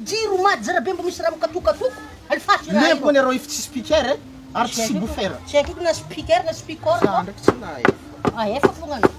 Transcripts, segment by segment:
Jiro mad zara be mbo misy raha mikatokatoko alefaso i raha io. Lempo an'iareo iftsy speaker e ary tsy subwoofer. Tsy haiko ko na speaker na speaker io. Za ndraiky tsy nahay. Ahefa ah, fogna anao.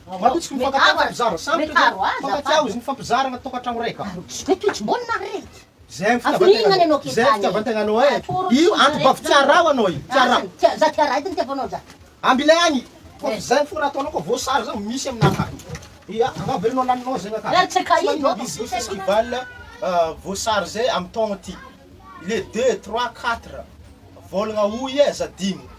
Matotsiky ny fankatiavan'ny mpizara sampitra izay mifankatia izy nifampizarana ny tokantrano iray ka. Izay toetrim-bolana ry reto. Izay ny fitiavan-tegna anao eh. Io anti-bavy tsy araho anao io, tsy araho. Za tia raha edy ny tiavanao za. Ambilay any fa izay fo raha ataonao koa voasary zany misy aminah ka. Ia angaha velona laninao zay nga ka. Tsy maninona izy zay festival voasary izay amin'ny taogno ty. Le deux, trois, quatre, volagna oy eh za dimy.